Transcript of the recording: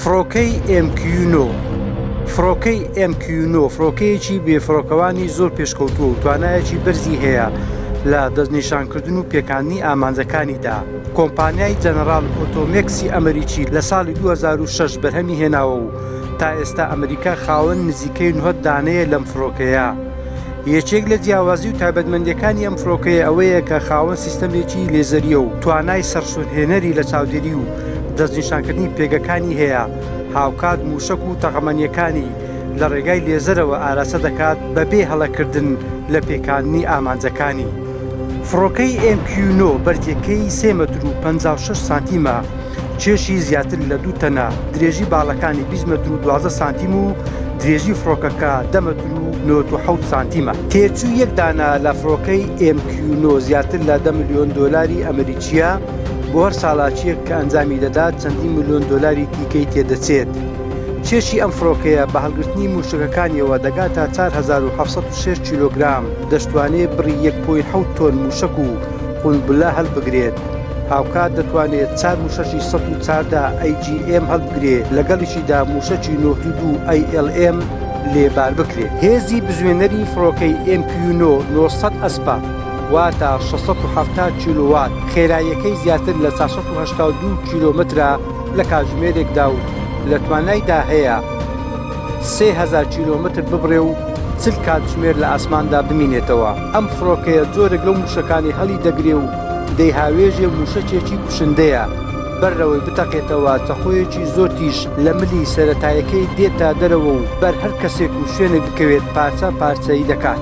فڕۆکەی MQ9 فڕۆکەی MQ9 فڕۆکەیەکی بێفڕۆکەوانی زۆر پێشکەوتووە و توانایەکی بەرزی هەیە لە دەستنیشانکردن و پێکاندنی ئامانجەکانیدا کۆمپانیای جەنەرال ئۆتۆمێکسی ئەمریکی لە ساڵی 2006 بەرهەمی هێناوە و تا ئێستا ئەمریکا خاوەن نزیکەی نهۆت دانەیە لەم فڕۆکەیە. یەکێک لە جیاوازی و تایبەتمەندیەکانی ئەم فرۆکەیە ئەوەیە کە خاوەن سیستەمێکی لێزەریە و توانای سەرسورهێنەری لە چاودێری و دەستنیشانکردنی پێگەکانی هەیە، هاوکات موشەک و تەقەمەنیەکانی لە ڕێگای لێزەرەوە ئاراستە دەکات بەبێ هەڵەکردن لە پێکاندنی ئامانجەکانی. فڕۆکەی ئێم کیو نۆ بەرزیەکەی سێ مەتر و پەنجا و شەش سانتیمە، کێشی زیاتر لە دوو تەنە، درێژی باڵەکانی بیست مەتر و دوازدە سانتیم و درێژی فڕۆکەکە دە مەتر و نەوەد و حەوت سانتیمە. تێچووی یەک دانە لە فڕۆکەی ئێم کیو نۆ زیاتر لە دە ملیۆن دۆلاری ئەمریکییە، بۆ هەر چالاکییەک کە ئەنجامی دەدات چەندین ملیۆن دۆلاری دیکەی تێدەچێت. کێشی ئەم فڕۆکەیە بە هەڵگرتنی مووشەکەکانییەوە دەگاتە چوار هەزار و حەڤ سەد و شەش کیلۆگرام، دەشتوانێت بڕی یەک پۆینت حەوت تۆن مووشەک و قونبلە هەلبگرێت. هاوکات دەتوانێت چار موشەکی سەد و چاردە AGM هەلبگرێ لەگەڵیشیدا موشەکی نۆد و دوو ALM لێ بار بکرێ. هێزی بزوێنەری فڕۆکەی MQ نۆ نۆ سەد ئەسپە واتە شەش سەد و حەفتا کیلۆ وات، خێراییەکەی زیاتر لە چوار سەد و هەشتا و دوو کیلۆمەترە لە کاتژمێرێکدا و لە توانایدا هەیە سێ هەزار کیلۆمەتر ببڕێ و چل کاتژمێر لە ئاسماندا بمینێتەوە، ئەم فڕۆکەیە جۆرێک لەو موشەکانەی هەڵیدەگرێ و دەی هاوێژێ مووشەکێکی کوشندەیە، بەر لەوەی بتەقێتەوە تەقۆیەکی زۆر تیژ لە ملی سەرەتایەکەی دێتە دەرەوە و بەر هەر کەسێک و شوێنێک بکەوێت پارچە پارچەی دەکات.